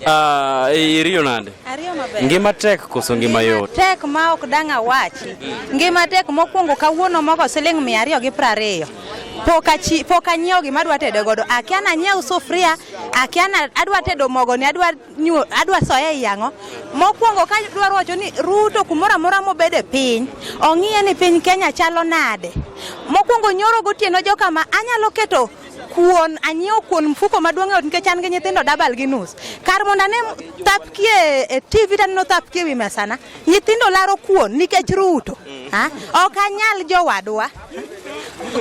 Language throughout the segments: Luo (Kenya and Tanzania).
Ah, iriyo nade? Ariyo maber. Ngima tek koso ngima yot? Tek ma ok dang' awachi. Ngima tek mokwongo kawuono mogo siling' mia ariyo gi piero ariyo. Pok achi- pok anyiewo gima adwa tedo godo. Akia nanyiew sufria, akia na adwa tedo mogo ni adwa nyuo, adwa soya e yang'o. Mokwongo ka dwaro wacho ni Ruto kumoro amora mobede piny, ong'iye ni piny Kenya chalo nade. Mokwongo nyoro gotieno joka ma anyalo keto kuon anyiewo kuon mfuko maduong' eot nikech an gi nyithindo dabal gi nus kar mondo ane thapkie e tv taneno thapkie wi mesana nyithindo laro kuon nikech ruto ok anyal jowadwa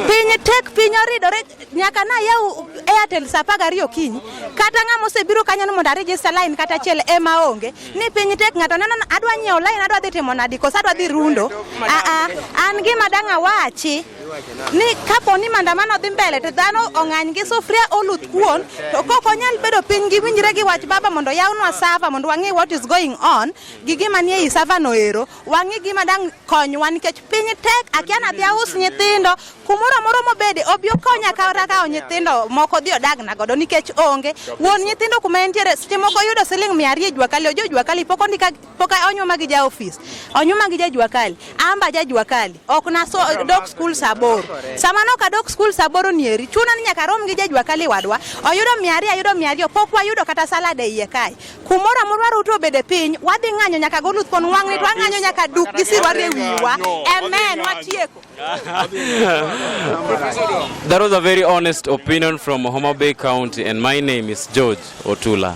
piny tek piny oridore nyaka na yaw airtel sa apar gariyo okinyi kata ng'ama osebiro kanyo ni mondo arejista lain kata achiel ema onge ni piny tek ng'ato neno adwa nyiewo lain adwa dhi timo nadi koso adwa dhi rundo aa an gima dang' awachi ni kapo ni maandamano dhi mbele to dhano ong'any gi sufria oluth kuon to kok onyal bedo piny gi winjre gi wach baba mondo yawnwa sava mondo wang'e what is going on gi gima nie i sava no ero wang'e gima dang' konywa nikech piny tek akia nadhi aus nyithindo kumoro amoro mobede obi okonya kata kawo nyithindo moko dhi odagna godo nikech onge wuon nyithindo kuma entiere seche moko yudo siling' mia ariyo e jua kali ojo jua kali pok ondika Poka onyuma gi ja ofis, onyuma gi ja juakali, amba ja juakali. Ok na so dok skul saa aboro. Sama nok adok skul saa aboro nieri, chuna ni nyaka rom gi ja juakali wadwa. Oyudo mia ariyo, ayudo mia ariyo, pok wayudo kata salad e iye kae. Kumoro amoro waruto obede piny, wadhi ng'anyo nyaka goluth kon wang' nit, wang'anyo nyaka duk gi sirwa e wiwa. Amen, watieko. That was a very honest opinion from Homa Bay County and my name is George Otula.